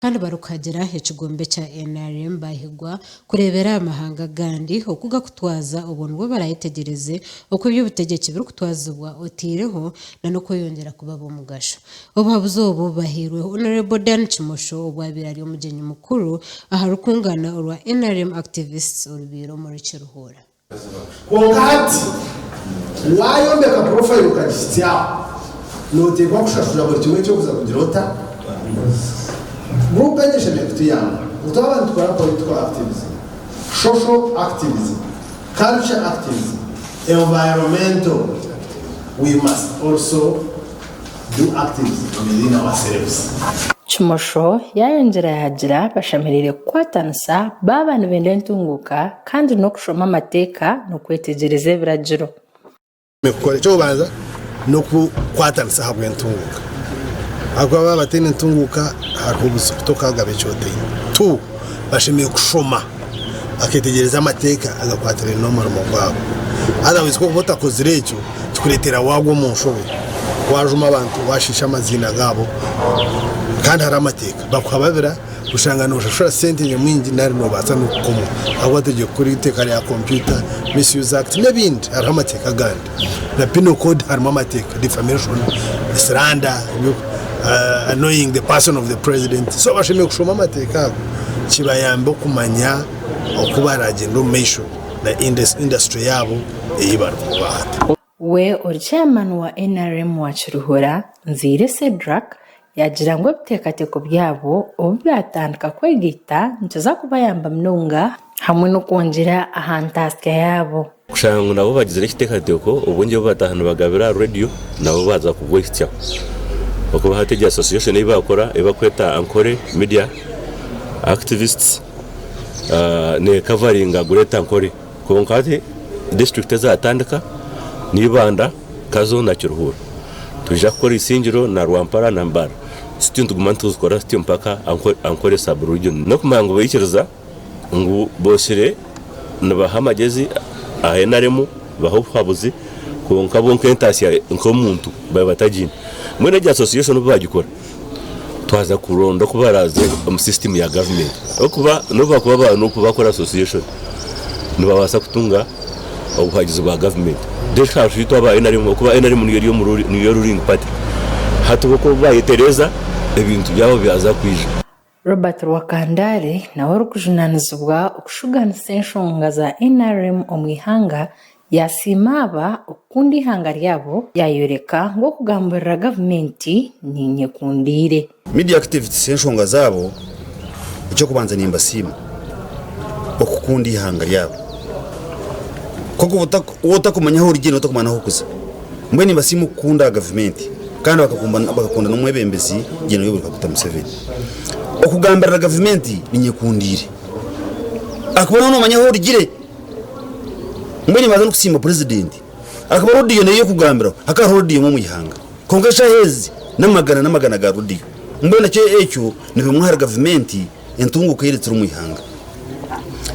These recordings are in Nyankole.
Kandi barikuhagira ekigombe kya nrm baahigwa kureebera aha mahanga agandi oku gakutwaza obwo nibwo baraayetegyereze oku eby'obutegyeki birikutwazibwa otaireho na n'okweyongyera kuba ab'omugasho. Obuhabuzi obu bubahairwe Honourable Dan Kimosho obwabaire ari omugyenyi mukuru aha rukungana orwa nrm Activists orubaire omuri Kiruhura. Kwonka hati, waayombeka purofayiro okagisitsyaho, nooteekwa kushashura buri kimwe eky'okuza kugira ota? Guruupu egi eshemereire kutuyamba ngu twaba nitukora political activism, social activism, culture activism, environmental, we must also. Kimosho yaayongyera yaagira bashemereire kukwatanisa baaba nibenda entunguuka kandi n'okushoma amateeka n'okwetegyereza ebiragiro. Kukora eky'okubanza n'okukwatanisa ahabw'entunguuka ahabw'okuba baaba bataine ntunguuka hariho obuzibu tokagaba eki otaine. Bashemereire kushoma. baketegyereza amateeka agakwatirane n'omurimo gwabo. Otherwise ku okuba otakozire ekyo kikureetera waagwa omu nshobe, waajuma abantu, waashiisha amaziina gaabo kandi hariho amateeka. Bakuhababira oshanga nooshashura sente nyamwingi nari noobaasa n'okukomwa ahabw'oba togiire kukora eiteeka rya kompyuta, Misuse Act n'ebindi hariho amateeka agandi. na penal code harimu amateeka defamation slander annoying the person of the president so bashemereire kushoma amateeka ago kibayambe okumanya oku baragyenda omu maisho na industry yaabo eyi barikubaho. We ori chairman wa nrm wa Kiruhura, Nzeire Cedrack, Yaagira ngu ebiteekateeko byabo obu byatandika kwegaita nikiza kubayamba munonga hamwe n'okwongyera aha ntaatsya yaabo. Kushanga ngu nabo bagizire ekiteekateeko, obwengye obu bataaha nibagabira aha reediyo nabo baaza kubwehitsyaho. Okwo hati egyo association ei baakora ei barikweta Ankole Media Activists neekavaringa Greater Ankole. Kwonka hati disiturikiti ezatandika ni Ibanda, Kazo na Kiruhura. Twija kukora Isingiro na Rwampara na Mbale. Sityo nituguma nituzikora sityo mpaka Ankole Sub Region. N'okumanya ngu baikiriza ngu botsire nibaha amagezi aha nrm baha obuhabuzi kwonka bo nk'entaatsya nk'omuntu baabe batagiine. Mbwenu egi association obu baagikora, twaza kuronda oku baraaze omu sisitimu ya gavumenti ahabw'okuba n'obu baakuba baine oku baakora asosiyeshoni nibabaasa kutunga obuhagizi bwa gavumenti then hariho itwe aba nrm ahabw'okuba nrm niyo eri omuri niyo ruling party hati bo ku baayetereeza ebintu byabo byaza kwija. Robert Rwakandaare nawe orikujunanizibwa okushuganisa enshonga za nrm omu ihanga yasiima aba okukunda ihanga ryabo yayoreka ngu okugambirira gavumenti ninyekundiire. Media activists enshonga zaabo ekyokubanza nimbasiima okukunda ihanga ryabo kuba waaba otakumanya ahu orugye noba otakumanya nahu orikuza. Mbwenu nibasiima okukunda aha gavumenti kandi bakakunda n'omwebembezi Gen Yoweri Kaguta Museveni. Okugambirira gavumenti ninyekundiire ahakuba nooba noomanya ahu orugire. Mbwenu nibaanza n'okusiima purezidenti ahakuba radiyo nayo y'okugambiraho hakaba hariho radiyo emwe omu ihanga kwonka eshaaha ezi n'amagana n'amagana ga radiyo. Mbwenu ekyo nikyo nibimwa ahari gavumenti. Entunguka eri turi omu ihanga.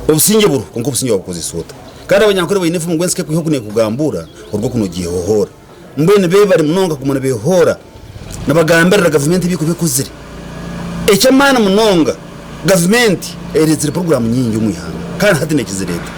Obusingye buriho, kwonka obusingye wabukozesa ota? Kandi abanyankole baine enfumu ngu ensi k'ekwiha oku neekugambuura, oruga oku noogihohoora. Mbwenu beebare munonga kuguma nibeehoora nibagambirira gavumenti ebi ekuba ekozire. Eky'amaani munonga, gavumenti ereetsire puroguraamu nyingi omu ihanga kandi hati neekizireeta.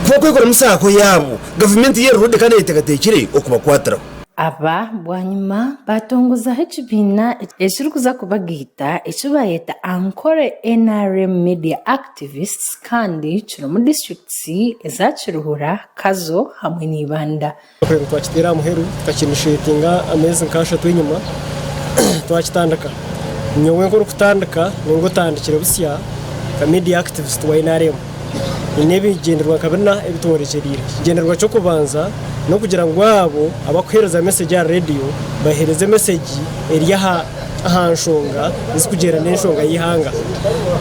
Ku bakwekoramu saako yaabo, gavumenti yo eri redi kandi eyeteekateekire okubakwatiraho. Aba bwanyima baatongozaho ekibiina ekirikuza kubagaita eki baayeta Ankole nrm Media Activists kandi kirimu disiturikiti eza Kiruhura, Kazo hamwe n'Ibanda. Ekiteekateeko twakiteera aha muheru tukakiinishetinga ameezi nk'ashatu enyima twakitandika. Nyowe nk'orikutandika, nyowe otandikire busya nka Media Activist wa nrm. haine ebigyendererwa nka bina ebitworekyereire. Ekigyendererwa ky'okubanza n'okugira ngu abo abarikuheereza mesegi aha reediyo baheereze mesegi eri aha nshonga ezirikugyenda n'enshonga y'eihanga.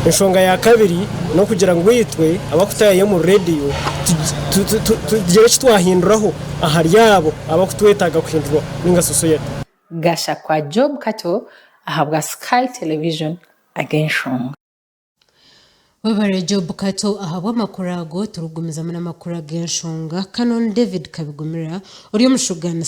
Enshonga ya kabiri n'okugira ngu itwe abarikutaayayo omuri reediyo tugire eki twahinduraho ahari abo abarikutwetaaga kuhindura nainga shi sosayeete. Gashakwa Job Kato ahabwa Sky Television ag'enshonga. Webare Job Kato ahabw'amakuru ago. Turikugumizamu n'amakuru ag'enshonga. Canon David Kabigumira ori omushuganisi.